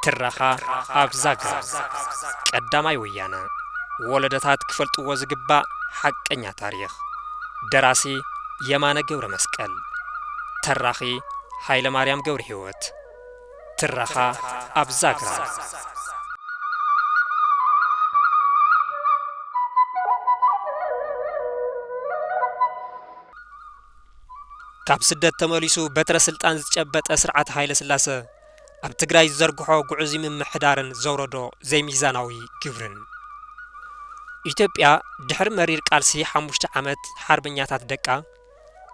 ትረኻ ኣብ ዛግራ ቀዳማይ ወያነ ወለደታት ክፈልጥዎ ዝግባእ ሓቀኛ ታሪኽ ደራሲ የማነ ገብረ መስቀል ተራኺ ሃይለ ማርያም ገብረ ህይወት ትረኻ ኣብ ዛግራ። ካብ ስደት ተመሊሱ በትረ ስልጣን ዝጨበጠ ስርዓት ሃይለስላሰ ኣብ ትግራይ ዝዘርግሖ ግዑዙይ ምምሕዳርን ዘውረዶ ዘይሚዛናዊ ግብርን ኢትዮጵያ ድሕሪ መሪር ቃልሲ ሓሙሽተ ዓመት ሓርበኛታት ደቃ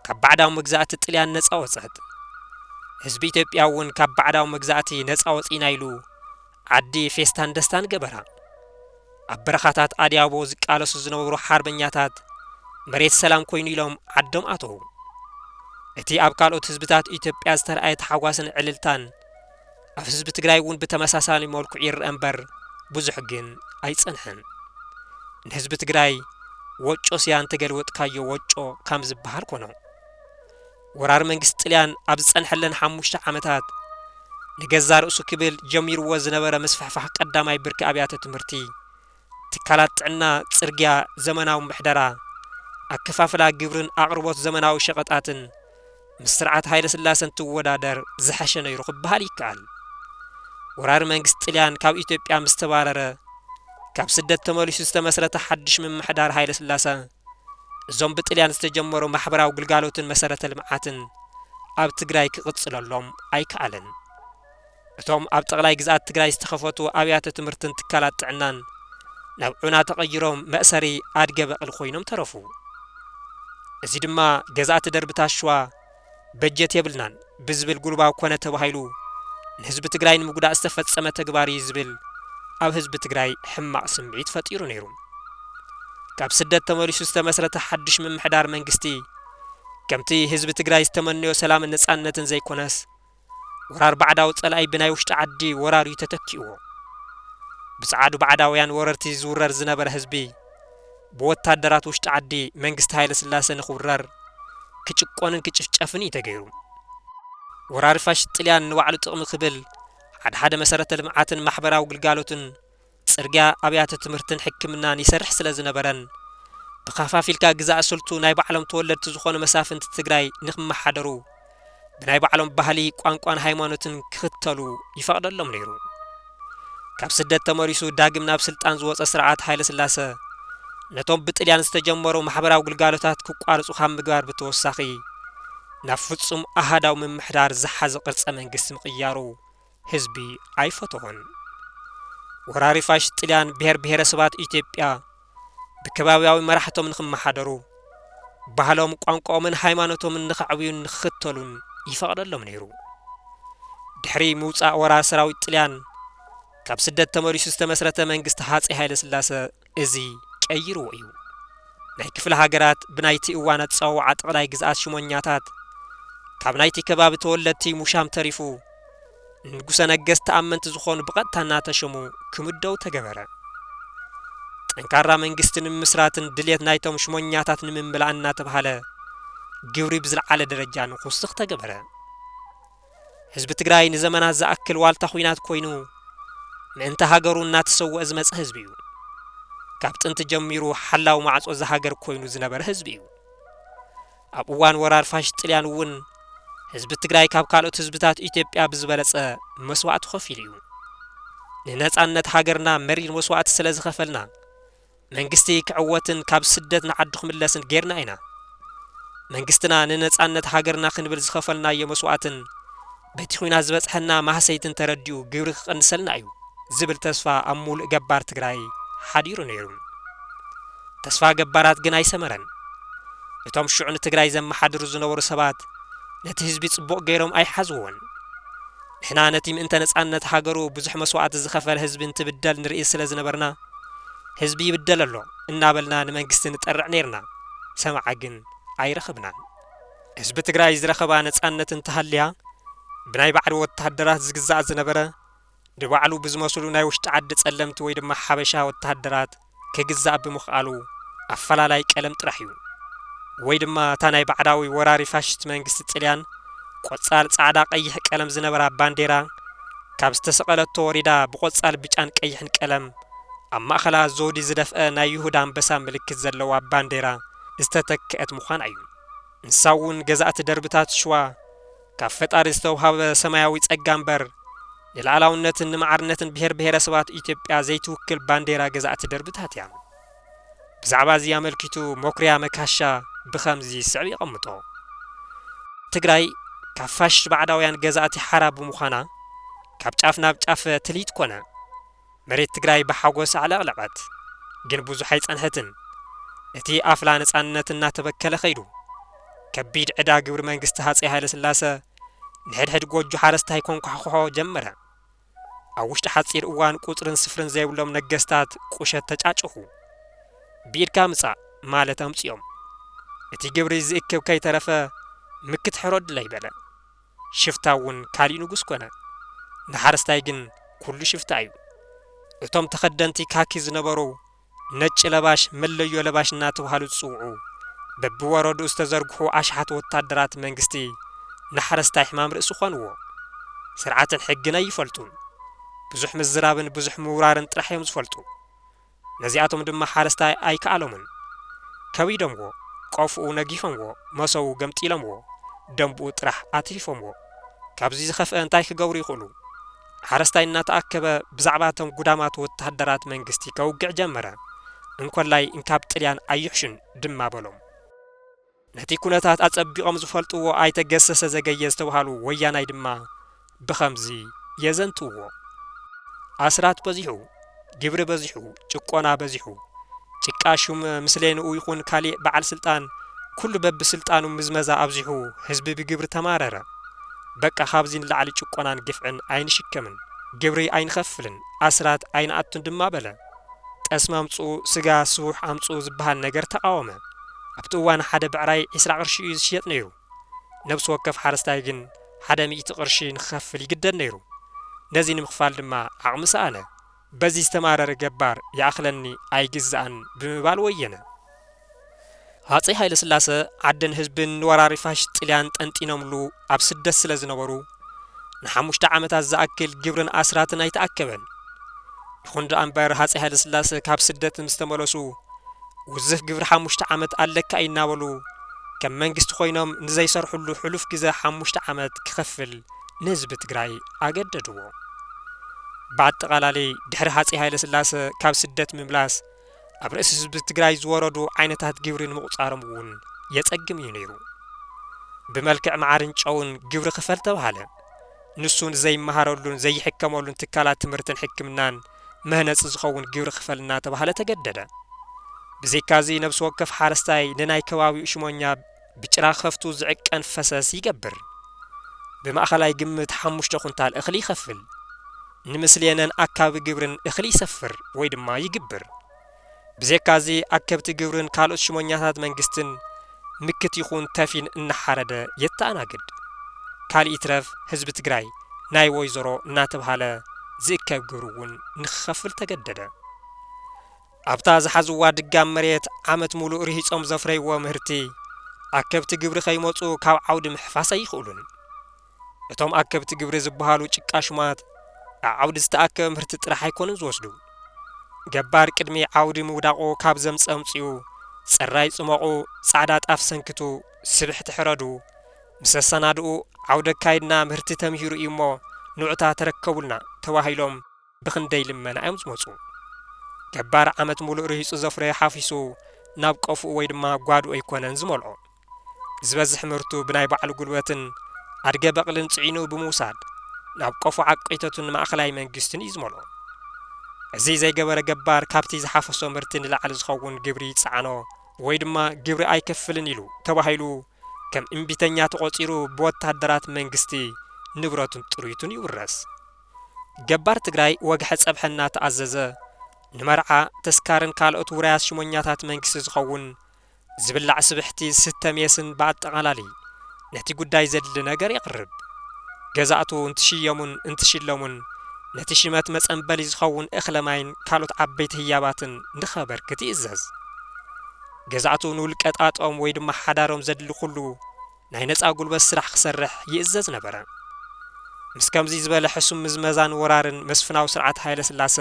ካብ ባዕዳዊ መግዛእቲ ጥልያን ነጻ ወጸት። ህዝቢ ኢትዮጵያ እውን ካብ ባዕዳዊ መግዛእቲ ነጻ ወጺእና ኢሉ ዓዲ ፌስታን ደስታን ገበራ። ኣብ በረኻታት ኣድያቦ ዝቃለሱ ዝነበሩ ሓርበኛታት መሬት ሰላም ኮይኑ ኢሎም ዓዶም ኣተዉ። እቲ ኣብ ካልኦት ህዝብታት ኢትዮጵያ ዝተርኣየ ታሕጓስን ዕልልታን ኣብ ህዝቢ ትግራይ እውን ብተመሳሳሊ መልክዑ ይረኣ እምበር ብዙሕ ግን ኣይፀንሐን። ንህዝቢ ትግራይ ወጮ ስያ እንተገልወጥካዮ ወጮ ካም ዝበሃል ኮኖ። ወራር መንግስቲ ጥልያን ኣብ ዝፀንሐለን ሓሙሽተ ዓመታት ንገዛ ርእሱ ክብል ጀሚርዎ ዝነበረ ምስፍሕፋሕ ቀዳማይ ብርኪ ኣብያተ ትምህርቲ ትካላት ጥዕና፣ ጽርግያ፣ ዘመናዊ ምሕደራ፣ ኣከፋፍላ ግብሪን ኣቕርቦት ዘመናዊ ሸቐጣትን ምስ ስርዓት ሃይለስላሰ እንትወዳደር ዝሐሸ ነይሩ ክበሃል ይከኣል። ወራሪ መንግስቲ ጥልያን ካብ ኢትዮጵያ ምስ ተባረረ ካብ ስደት ተመሊሱ ዝተመስረተ ሓዱሽ ምምሕዳር ሃይለስላሰ እዞም ብጥልያን ዝተጀመሩ ማሕበራዊ ግልጋሎትን መሰረተ ልምዓትን ኣብ ትግራይ ክቕፅለሎም ኣይከኣለን። እቶም ኣብ ጠቕላይ ግዝኣት ትግራይ ዝተኸፈቱ ኣብያተ ትምህርትን ትካላት ጥዕናን ናብ ዑና ተቐይሮም መእሰሪ ኣድገ በቕሊ ኮይኖም ተረፉ። እዚ ድማ ገዛእቲ ደርብታት ሽዋ በጀት የብልናን ብዝብል ጉልባብ ኮነ ተባሂሉ ንህዝቢ ትግራይ ንምጉዳእ ዝተፈፀመ ተግባር እዩ ዝብል ኣብ ህዝቢ ትግራይ ሕማቕ ስምዒት ፈጢሩ ነይሩ። ካብ ስደት ተመሊሱ ዝተመስረተ ሓዱሽ ምምሕዳር መንግስቲ ከምቲ ህዝቢ ትግራይ ዝተመነዮ ሰላምን ነፃነትን ዘይኮነስ ወራር ባዕዳዊ ጸላኢ ብናይ ውሽጢ ዓዲ ወራር እዩ ተተኪእዎ። ብጸዓዱ ባዕዳውያን ወረርቲ ዝውረር ዝነበረ ህዝቢ ብወታደራት ውሽጢ ዓዲ መንግስቲ ሃይለስላሰ ንክውረር፣ ክጭቆንን ክጭፍጨፍን እዩ ተገይሩ። ወራሪ ፋሽስት ጥልያን ንባዕሉ ጥቕሚ ክብል ሓድሓደ መሰረተ ልምዓትን ማሕበራዊ ግልጋሎትን ጽርግያ፣ ኣብያተ ትምህርትን ሕክምናን ይሰርሕ ስለ ዝነበረን ብከፋፊልካ ግዛእ ስልቱ ናይ ባዕሎም ተወለድቲ ዝኾኑ መሳፍንቲ ትግራይ ንክመሓደሩ ብናይ ባዕሎም ባህሊ፣ ቋንቋን ሃይማኖትን ክኽተሉ ይፈቕደሎም ነይሩ። ካብ ስደት ተመሊሱ ዳግም ናብ ስልጣን ዝወጸ ስርዓት ሃይለስላሰ ነቶም ብጥልያን ዝተጀመሩ ማሕበራዊ ግልጋሎታት ክቋርጹ ካብ ምግባር ብተወሳኺ ናብ ፍጹም ኣሃዳዊ ምምሕዳር ዝሓዘ ቅርጸ መንግስቲ ምቕያሩ ህዝቢ ኣይፈተዎን። ወራሪ ፋሽስት ጥልያን ብሄር ብሄረሰባት ኢትዮጵያ ብከባብያዊ መራሕቶም ንኽመሓደሩ፣ ባህሎም፣ ቋንቋኦምን ሃይማኖቶምን ንኸዕብዩን ንኽኽተሉን ይፈቕደሎም ነይሩ። ድሕሪ ምውጻእ ወራር ሰራዊት ጥልያን ካብ ስደት ተመሊሱ ዝተመስረተ መንግስቲ ሃጸይ ሃይለስላሰ፣ እዚ ቀይርዎ እዩ። ናይ ክፍለ ሃገራት ብናይቲ እዋን ኣጸዋውዓ ጠቕላይ ግዝኣት ሹመኛታት ካብ ናይቲ ከባቢ ተወለድቲ ሙሻም ተሪፉ ንንጉሰ ነገስት ተኣመንቲ ዝኾኑ ብቐጥታ እናተሾሙ ክምደቡ ተገበረ። ጠንካራ መንግስቲ ንምምስራትን ድሌት ናይቶም ሹመኛታት ንምምላእን እናተብሃለ ግብሪ ብዝልዓለ ደረጃ ንኹስኽ ተገበረ። ህዝቢ ትግራይ ንዘመናት ዝኣክል ዋልታ ኹናት ኮይኑ ምእንተ ሃገሩ እናተሰወኣ ዝመፀ ህዝቢ እዩ። ካብ ጥንቲ ጀሚሩ ሓላዊ ማዕፆ እዛ ሃገር ኮይኑ ዝነበረ ህዝቢ እዩ። ኣብ እዋን ወራር ፋሽስት ጥልያን እውን ህዝቢ ትግራይ ካብ ካልኦት ህዝብታት ኢትዮጵያ ብዝበለፀ መስዋእቲ ኸፊሉ እዩ። ንነፃነት ሃገርና መሪር መስዋእቲ ስለዝኸፈልና፣ መንግስቲ ክዕወትን ካብ ስደት ንዓዱ ክምለስን ጌርና ኢና። መንግስትና ንነጻነት ሃገርና ክንብል ዝኸፈልናዮ መስዋእትን በቲ ኹናት ዝበጽሐና ማህሰይትን ተረዲኡ ግብሪ ክቕንሰልና እዩ ዝብል ተስፋ ኣብ ሙሉእ ገባር ትግራይ ሓዲሩ ነይሩ። ተስፋ ገባራት ግን ኣይሰመረን። እቶም ሽዑ ንትግራይ ዘመሓድሩ ዝነበሩ ሰባት ነቲ ህዝቢ ጽቡቕ ገይሮም ኣይሓዝዎን። ንሕና ነቲ ምእንተ ነጻነት ሃገሩ ብዙሕ መስዋእቲ ዝኸፈለ ህዝቢ እንትብደል ንርኢ ስለ ዝነበርና፣ ህዝቢ ይብደል ኣሎ እናበልና ንመንግስቲ ንጠርዕ ነይርና። ሰማዒ ግን ኣይረኸብናን። ህዝቢ ትግራይ ዝረኸባ ነጻነት እንተሃልያ፣ ብናይ ባዕሉ ወተሃደራት ዝግዛእ ዝነበረ፣ ንባዕሉ ብዝመስሉ ናይ ውሽጢ ዓዲ ጸለምቲ ወይ ድማ ሓበሻ ወተሃደራት፣ ክግዛእ ብምኽኣሉ ኣፈላላይ ቀለም ጥራሕ እዩ። ወይ ድማ እታ ናይ ባዕዳዊ ወራሪ ፋሽስት መንግስቲ ጥልያን ቆፃል ፃዕዳ ቀይሕ ቀለም ዝነበራ ባንዴራ ካብ ዝተሰቐለቶ ወሪዳ ብቆፃል ብጫን ቀይሕን ቀለም ኣብ ማእኸላ ዘውዲ ዝደፍኣ ናይ ይሁዳ ኣንበሳ ምልክት ዘለዋ ባንዴራ ዝተተከኣት ምዃና እዩ። ንሳ እውን ገዛእቲ ደርብታት ሽዋ ካብ ፈጣሪ ዝተውሃበ ሰማያዊ ጸጋ እምበር፣ ንልኣላውነትን ንማዕርነትን ብሄር ብሄረሰባት ኢትዮጵያ ዘይትውክል ባንዴራ ገዛእቲ ደርብታት እያ። ብዛዕባ እዚ ኣመልኪቱ መኩሪያ መካሻ ብኸምዚ ዝስዕብ የቐምጦ፣ ትግራይ ካብ ፋሽስት ባዕዳውያን ገዛእቲ ሓራ ብምዃና፣ ካብ ጫፍ ናብ ጫፍ ትልሂት ኮነ። መሬት ትግራይ ብሓጎስ ኣዕለቕለቐት። ግን ብዙሕ ኣይጸንሐትን። እቲ ኣፍላ ነጻነት እናተበከለ ከይዱ። ከቢድ ዕዳ ግብሪ መንግስቲ ሃጸይ ሃይለስላሰ ንሕድሕድ ጎጆ ሓረስታይ ከንኳሕኩሖ ጀመረ። ኣብ ውሽጢ ሓጺር እዋን ቁጽርን ስፍርን ዘይብሎም ነገስታት ቁሸት ተጫጭሑ። ብኢድካ ምጻእ ማለት ኣምጺኦም። እቲ ግብሪ ዝእክብ ከይተረፈ ምክት ሕረዱለይ በለ። ሽፍታ እውን ካሊእ ንጉስ ኮነ። ንሓረስታይ ግን ኩሉ ሽፍታ እዩ። እቶም ተኸደንቲ ካኪ ዝነበሩ ነጭ ለባሽ መለዮ ለባሽ እናተብሃሉ ዝፅውዑ በቢወረድኡ ዝተዘርግሑ ኣሽሓት ወታደራት መንግስቲ ንሓረስታይ ሕማም ርእሲ ኮንዎ። ስርዓትን ሕግን ኣይፈልጡን። ብዙሕ ምዝራብን ብዙሕ ምውራርን ጥራሕ እዮም ዝፈልጡ። ነዚኣቶም ድማ ሓረስታይ ኣይከኣሎምን። ከቢዶምዎ፣ ቆፎኡ ነጊፎምዎ፣ መሶቡ ገምጢሎምዎ፣ ደምብኡ ጥራሕ ኣትሪፎምዎ። ካብዚ ዝኸፍኣ እንታይ ክገብሩ ይኽእሉ? ሓረስታይ እናተኣከበ ብዛዕባ እቶም ጉዳማት ወተሃደራት መንግስቲ ከውግዕ ጀመረ። እንኮላይ እንካብ ጥልያን ኣይሕሹን ድማ በሎም። ነቲ ኩነታት ኣጸቢቖም ዝፈልጥዎ ኣይተ ገሰሰ ዘገየ ዝተብሃሉ ወያናይ ድማ ብኸምዚ የዘንትውዎ። ኣስራት በዚሑ፣ ግብሪ በዚሑ፣ ጭቆና በዚሑ። ጭቃ ሹም ምስሌንኡ ይኹን ካሊእ በዓል ስልጣን ኩሉ በብስልጣኑ ምዝመዛ ኣብዚሑ ህዝቢ ብግብሪ ተማረረ። በቃ ካብዚ ንላዕሊ ጭቆናን ግፍዕን ኣይንሽከምን፣ ግብሪ ኣይንኸፍልን፣ ኣስራት ኣይንኣቱን ድማ በለ። ጠስሚ ኣምጽኡ ስጋ ስቡሕ ኣምጽኡ ዝብሃል ነገር ተቓወመ። ኣብቲ እዋን ሓደ ብዕራይ ዕስራ ቅርሺ እዩ ዝሽየጥ ነይሩ። ነብሲ ወከፍ ሓረስታይ ግን ሓደ ሚእቲ ቅርሺ ንክኸፍል ይግደድ ነይሩ። ነዚ ንምኽፋል ድማ ዓቕሚ ሰኣነ። በዚ ዝተማረረ ገባር ይኣኽለኒ ኣይግዛእን ብምባል ወየነ። ሃጸይ ሃይለስላሰ ዓድን ህዝብን ንወራሪ ፋሽስት ጥልያን ጠንጢኖምሉ ኣብ ስደት ስለ ዝነበሩ፣ ንሓሙሽተ ዓመታት ዝኣክል ግብርን ኣስራትን ኣይተኣከበን። ይኹን ደኣ እምበር ሃጸይ ሃይለስላሰ ካብ ስደት ምስ ተመለሱ፣ ውዝፍ ግብሪ ሓሙሽተ ዓመት ኣለካ እዩ እናበሉ ከም መንግስቲ ኮይኖም ንዘይሰርሕሉ ሕሉፍ ግዘ ሓሙሽተ ዓመት ክኸፍል ንህዝቢ ትግራይ ኣገደድዎ። ብኣጠቓላሊ ድሕሪ ሃጸይ ሃይለስላሰ ካብ ስደት ምምላስ፣ ኣብ ርእሲ ህዝቢ ትግራይ ዝወረዱ ዓይነታት ግብሪ ንምቑፃሮም እውን የፀግም እዩ ነይሩ። ብመልክዕ መዓርን ጨውን ግብሪ ኽፈል ተብሃለ። ንሱ ንዘይመሃረሉን ዘይሕከመሉን ትካላት ትምህርትን ሕክምናን መህነፂ ዝኸውን ግብሪ ኽፈል እናተብሃለ ተገደደ። ብዘይካዚ ነብሲ ወከፍ ሓረስታይ ንናይ ከባቢኡ ሽሞኛ ብጭራ ከፍቱ ዝዕቀን ፈሰስ ይገብር። ብማእኸላይ ግምት ሓሙሽተ ኩንታል እኽሊ ይኸፍል። ንምስሌነን ኣካቢ ግብርን እኽሊ ይሰፍር ወይ ድማ ይግብር። ብዜካ እዚ ኣከብቲ ግብርን ካልኦት ሽሞኛታት መንግስትን ምክት ይኹን ተፊን እናሓረደ የተኣናግድ። ካልእ ይትረፍ ህዝቢ ትግራይ ናይ ወይዘሮ እናተብሃለ ዝእከብ ግብሪ እውን ንክኸፍል ተገደደ። ኣብታ ዝሓዝዋ ድጋም መሬት ዓመት ሙሉእ ርሂፆም ዘፍረይዎ ምህርቲ ኣከብቲ ግብሪ ከይመፁ ካብ ዓውዲ ምሕፋስ ኣይኽእሉን። እቶም ኣከብቲ ግብሪ ዝብሃሉ ጭቃ ሹማት ኣዓውዲ ዝተኣከበ ምህርቲ ጥራሕ ኣይኮኑን ዝወስዱ። ገባር ቅድሚ ዓውዲ ምውዳቑ ካብ ዘምፅ ኣምፅኡ፣ ፅራይ ፅሞቑ፣ ፃዕዳ ጣፍ ሰንክቱ፣ ስብሕቲ ሕረዱ ምስ ኣሰናድኡ ዓውዲ ኣካይድና ምህርቲ ተምሂሩ እዩሞ ንዑታ ተረከቡልና ተባሂሎም፣ ብኽንደይ ልመና እዮም ዝመጹ። ገባር ዓመት ሙሉእ ርሂጹ ዘፍረዮ ሓፊሱ ናብ ቀፍኡ ወይ ድማ ጓድኡ ኣይኮነን ዝመልኦ። ዝበዝሕ ምህርቱ ብናይ ባዕሉ ጉልበትን ኣድገ በቕልን ጽዒኑ ብምውሳድ ናብ ቀፎ ዓቀይተቱን ማእኸላይ መንግስትን እዩ ዝመልኦ። እዚ ዘይገበረ ገባር ካብቲ ዝሓፈሶ ምህርቲ ንላዕሊ ዝኸውን ግብሪ ይጸዓኖ ወይ ድማ ግብሪ ኣይከፍልን ኢሉ ተባሂሉ ከም እምቢተኛ ተቖጺሩ ብወታደራት መንግስቲ ንብረቱን ጥሪቱን ይውረስ። ገባር ትግራይ ወግሐ ጸብሐ እናተኣዘዘ ንመርዓ፣ ተስካርን ካልኦት ውራያት ሽሞኛታት መንግስቲ ዝኸውን ዝብላዕ ስብሕቲ፣ ዝስተ ሜስን ብኣጠቓላሊ ነቲ ጉዳይ ዘድሊ ነገር የቕርብ። ገዛእቱ እንትሽየሙን እንትሽለሙን ነቲ ሽመት መጸንበሊ ዝኸውን እኽለ ማይን ካልኦት ዓበይቲ ህያባትን ንኸበርክት ይእዘዝ። ገዛእቱ ንውልቀ ጣጦም ወይ ድማ ሓዳሮም ዘድሊ ኩሉ ናይ ነጻ ጉልበት ስራሕ ክሰርሕ ይእዘዝ ነበረ። ምስ ከምዚ ዝበለ ሕሱም ምዝመዛን ወራርን መስፍናዊ ስርዓት ሃይለስላሰ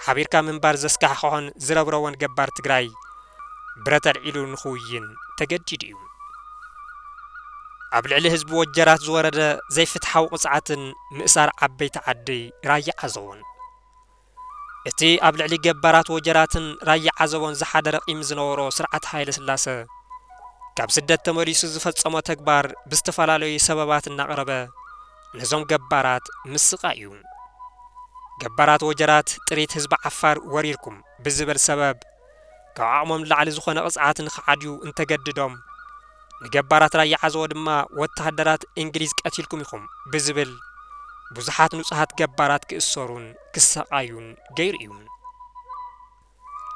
ሓቢርካ ምንባር ዘስካሕክሖን ዝረብረቦን ገባር ትግራይ ብረት ኣልዒሉ ንክውይን ተገዲዱ እዩ። ኣብ ልዕሊ ህዝቢ ወጀራት ዝወረደ ዘይፍትሓዊ ቅፅዓትን ምእሳር ዓበይቲ ዓዲ ራያ ዓዘቦን እቲ ኣብ ልዕሊ ገባራት ወጀራትን ራያ ዓዘቦን ዝሓደረ ቂም ዝነበሮ ስርዓት ሃይለስላሰ፣ ካብ ስደት ተመሊሱ ዝፈጸሞ ተግባር ብዝተፈላለዩ ሰበባት እናቕረበ ነዞም ገባራት ምስቓይ እዩ። ገባራት ወጀራት ጥሪት ህዝቢ ዓፋር ወሪርኩም ብዝብል ሰበብ፣ ካብ ዓቕሞም ንላዕሊ ዝኾነ ቅፅዓት ንኽዓድዩ እንተገድዶም ንገባራት ራያ ዓዘቦ ድማ ወታሃደራት እንግሊዝ ቀቲልኩም ኢኹም ብዝብል ብዙሓት ንፁሃት ገባራት ክእሰሩን ክሳቓዩን ገይሩ እዩ።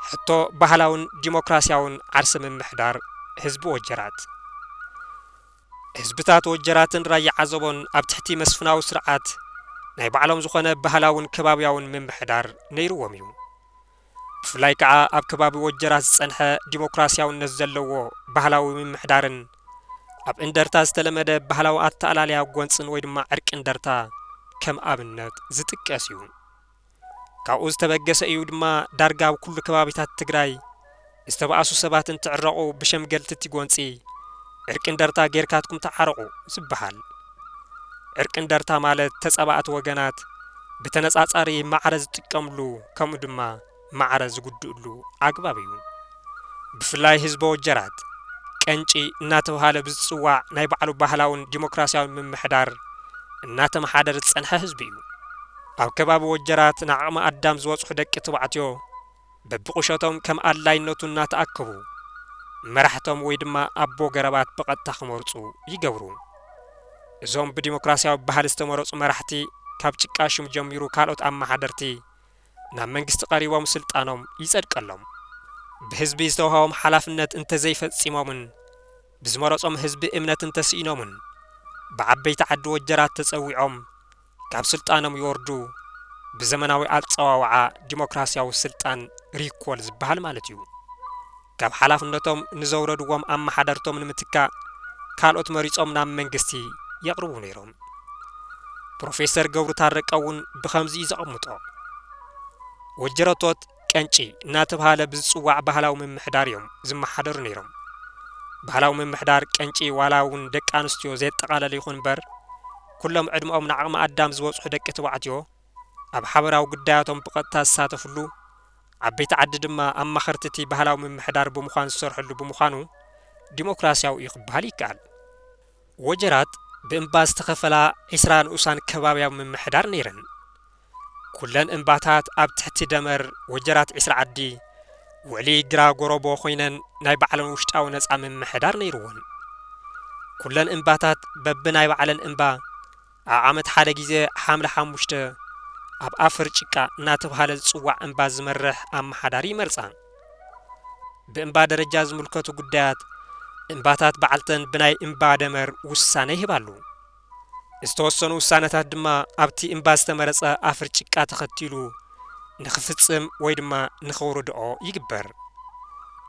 ሕቶ ባህላውን ዲሞክራሲያውን ዓርሰ ምምሕዳር ህዝቢ ወጀራት። ህዝብታት ወጀራትን ራያ ዓዘቦን ኣብ ትሕቲ መስፍናዊ ስርዓት ናይ ባዕሎም ዝኾነ ባህላውን ከባብያውን ምምሕዳር ነይርዎም እዩ። ብፍላይ ከኣ ኣብ ከባቢ ወጀራት ዝጸንሐ ዲሞክራስያውነት ዘለዎ ባህላዊ ምምሕዳርን ኣብ እንደርታ ዝተለመደ ባህላዊ ኣተኣላልያ ጎንጽን ወይ ድማ ዕርቂ እንደርታ ከም ኣብነት ዝጥቀስ እዩ። ካብኡ ዝተበገሰ እዩ ድማ ዳርጋ ኣብ ኩሉ ከባቢታት ትግራይ ዝተባኣሱ ሰባት እንትዕረቁ ብሸምገልቲ እቲ ጎንፂ ዕርቂ እንደርታ ገይርካትኩም ተዓረቁ ዝባሃል። ዕርቂ እንደርታ ማለት ተፃባእቲ ወገናት ብተነፃፃሪ ማዕረ ዝጥቀምሉ ከምኡ ድማ ማዕረ ዝጉድእሉ ኣግባብ እዩ። ብፍላይ ህዝበ ወጀራት ቀንጪ እናተብሃለ ብዝፅዋዕ ናይ ባዕሉ ባህላውን ዲሞክራሲያውን ምምሕዳር እናተመሓደር ዝፀንሐ ህዝቢ እዩ። ኣብ ከባቢ ወጀራት ንዓቕመ ኣዳም ዝበፅሑ ደቂ ትባዕትዮ፣ በብቑሸቶም ከም ኣድላይነቱ እናተኣከቡ መራሕቶም ወይ ድማ ኣቦ ገረባት ብቐጥታ ክመርፁ ይገብሩ። እዞም ብዲሞክራሲያዊ ባህሊ ዝተመረፁ መራሕቲ ካብ ጭቃ ሹም ጀሚሩ ካልኦት ኣመሓደርቲ ናብ መንግስቲ ቀሪቦም ስልጣኖም ይፀድቀሎም። ብህዝቢ ዝተውሃቦም ሓላፍነት እንተዘይፈፂሞምን ብዝመረፆም ህዝቢ እምነት እንተስኢኖምን ብዓበይቲ ዓዲ ወጀራት ተፀዊዖም ካብ ስልጣኖም ይወርዱ ብዘመናዊ ኣጸዋውዓ ዲሞክራሲያዊ ስልጣን ሪኮል ዝበሃል ማለት እዩ። ካብ ሓላፍነቶም ንዘውረድዎም ኣመሓደርቶም ንምትካእ ካልኦት መሪጾም ናብ መንግስቲ የቕርቡ ነይሮም። ፕሮፌሰር ገብሩ ታረቀ እውን ብኸምዚ እዩ ዘቐምጦ። ወጀረቶት ቀንጪ እናተብሃለ ብዝፅዋዕ ባህላዊ ምምሕዳር እዮም ዝመሓደሩ ነይሮም። ባህላዊ ምምሕዳር ቀንጪ ዋላ እውን ደቂ ኣንስትዮ ዘየጠቓለለ ይኹን እምበር ኩሎም ዕድመኦም ንዓቕመ ኣዳም ዝበፅሑ ደቂ ተባዕትዮ ኣብ ሓበራዊ ጉዳያቶም ብቐጥታ ዝሳተፍሉ ዓበይቲ ዓዲ ድማ ኣማኸርቲ እቲ ባህላዊ ምምሕዳር ብምዃን ዝሰርሕሉ ብምዃኑ ዲሞክራሲያዊ እዩ ክበሃል ይከኣል። ወጀራት ብእምባ ዝተኸፈላ ዒስራ ንኡሳን ከባብያዊ ምምሕዳር ነይረን። ኩለን እምባታት ኣብ ትሕቲ ደመር ወጀራት ዒስራ ዓዲ ውዕሊ ግራ ጎሮቦ ኮይነን ናይ ባዕለን ውሽጣዊ ነጻ ምምሕዳር ነይሩወን። ኩለን እምባታት በቢ ናይ ባዕለን እምባ ኣብ ዓመት ሓደ ግዜ ሓምለ ሓሙሽተ ኣብ ኣፍር ጭቃ እናተብሃለ ዝጽዋዕ እምባ ዝመርሕ ኣመሓዳሪ ይመርጻ። ብእምባ ደረጃ ዝምልከቱ ጉዳያት እምባታት ባዕልተን ብናይ እምባ ደመር ውሳነ ይህባሉ። ዝተወሰኑ ውሳነታት ድማ ኣብቲ እምባ ዝተመረጸ ኣፍር ጭቃ ተኸቲሉ ንኽፍጽም ወይ ድማ ንኸውርድኦ ይግበር።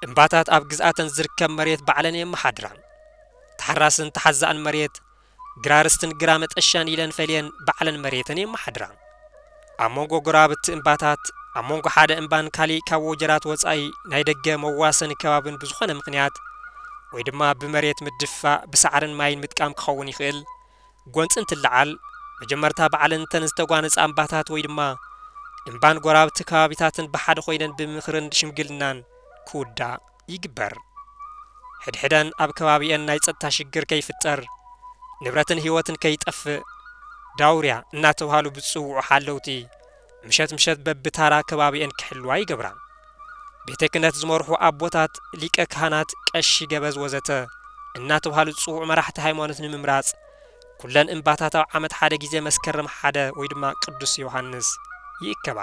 እምባታት ኣብ ግዝኣተን ዝርከብ መሬት ባዕለን የመሓድራ። ተሓራስን ተሓዛእን መሬት፣ ግራርስትን ግራ መጠሻን ኢለን ፈልየን ባዕለን መሬተን የመሓድራ። ኣብ መንጎ ጎረባብቲ እምባታት፣ ኣብ መንጎ ሓደ እምባን ካሊእ ካብ ወጀራት ወጻኢ ናይ ደገ መዋሰኒ ከባብን ብዝኾነ ምኽንያት ወይ ድማ ብመሬት ምድፍፋእ ብሳዕርን ማይን ምጥቃም ክኸውን ይኽእል። ጎንጺ እንትለዓል፣ መጀመርታ ባዕለን እተን ዝተጓነጻ እምባታት ወይ ድማ እምባን ጎረባብቲ ከባቢታትን ብሓደ ኮይነን ብምኽርን ሽምግልናን ክውዳእ። ይግበር። ሕድሕደን ኣብ ከባቢኤን ናይ ፀጥታ ሽግር ከይፍጠር፣ ንብረትን ህይወትን ከይጠፍእ ዳውርያ እናተብሃሉ ብዝፅውዑ ሓለውቲ ምሸት ምሸት በቢታራ ከባቢኤን ክሕልዋ ይገብራ። ቤተ ክህነት ዝመርሑ ኣቦታት፣ ሊቀ ካህናት፣ ቀሺ ገበዝ ወዘተ እናተብሃሉ ዝፅውዑ መራሕቲ ሃይማኖት ንምምራፅ ኩለን እምባታት ኣብ ዓመት ሓደ ግዜ መስከረም ሓደ ወይ ድማ ቅዱስ ዮሃንስ ይእከባ።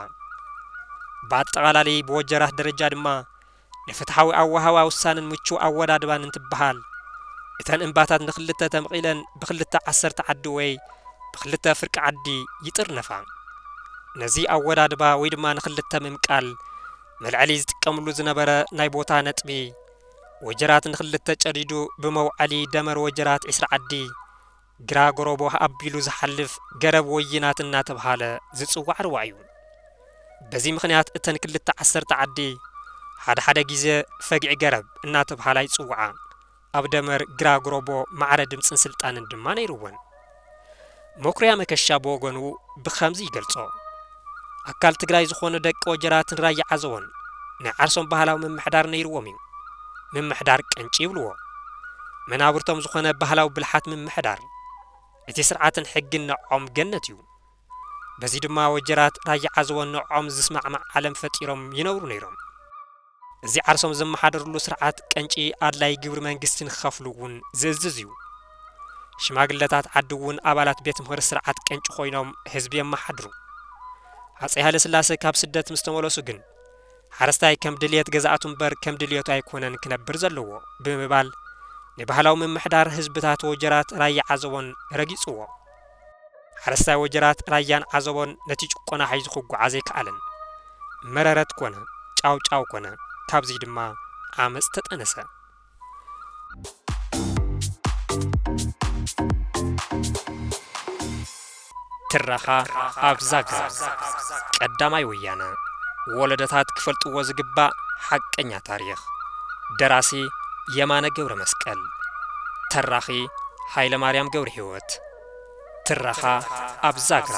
ብኣጠቓላሊ ብወጀራት ደረጃ ድማ ንፍትሓዊ ኣወሃህባ ውሳነን ምቹው ኣወዳድባን እንትበሃል፣ እተን እምባታት ንክልተ ተምቒለን ብክልተ ዓሰርተ ዓዲ ወይ ብክልተ ፍርቂ ዓዲ ይጥርነፋ። ነዚ ኣወዳድባ ወይ ድማ ንክልተ ምምቃል መልዐሊ ዝጥቀምሉ ዝነበረ ናይ ቦታ ነጥቢ ወጀራት ንክልተ ጨዲዱ ብመውዐሊ ደመር ወጀራት ዕስራ ዓዲ፣ ግራ ጎረቦ ኣቢሉ ዝሓልፍ ገረብ ወይናት እናተብሃለ ዝጽዋዕ ሩባ እዩ። በዚ ምኽንያት እተን ክልተ ዓሰርተ ዓዲ ሓደ ሓደ ግዜ ፈግዒ ገረብ እናተብሃላ ይጽውዓ። ኣብ ደመር ግራ ጎረቦ ማዕረ ድምጽን ስልጣንን ድማ ነይሩወን። መኩሪያ መከሻ ብወገኑ ብኸምዚ ይገልጾ። ኣካል ትግራይ ዝኾኑ ደቂ ወጀራትን ራያ ዓዘቦን ናይ ዓርሶም ባህላዊ ምምሕዳር ነይርዎም እዩ። ምምሕዳር ቅንጪ ይብልዎ። መናብርቶም ዝኾነ ባህላዊ ብልሓት ምምሕዳር። እቲ ስርዓትን ሕግን ንዐዖም ገነት እዩ። በዚ ድማ ወጀራት ራያ ዓዘቦን ንዐዖም ዝስማዕማዕ ዓለም ፈጢሮም ይነብሩ ነይሮም። እዚ ዓርሶም ዘመሓድርሉ ስርዓት ቀንጪ ኣድላዪ ግብሪ መንግስቲ ንክኸፍሉ እውን ዝእዝዝ እዩ። ሽማግለታት ዓዲ እውን ኣባላት ቤት ምኽሪ ስርዓት ቀንጪ ኮይኖም ህዝቢ የመሓድሩ። ሃፀይ ሃይለስላሰ ካብ ስደት ምስ ተመለሱ ግን ሓረስታይ ከም ድልየት ገዛእቱ እምበር ከም ድልየቱ ኣይኮነን ክነብር ዘለዎ ብምባል ንባህላዊ ምምሕዳር ህዝብታት ወጀራት ራያ ዓዘቦን ረጊፁዎ። ሓረስታይ ወጀራት ራያን ዓዘቦን ነቲ ጭቆና ሒዙ ክጓዓዝ ኣይከኣለን። መረረት ኮነ፣ ጫውጫው ኮነ፣ ካብዚ ድማ ዓመጽ ተጠነሰ። ትረኻ ኣብ ዛግራ ቀዳማይ ወያነ ወለደታት ክፈልጥዎ ዝግባእ ሓቀኛ ታሪኽ ደራሲ የማነ ገብረ መስቀል ተራኺ ሃይለ ማርያም ገብረ ሕይወት ዓወት! ትረኻ ኣብ ዛግራ!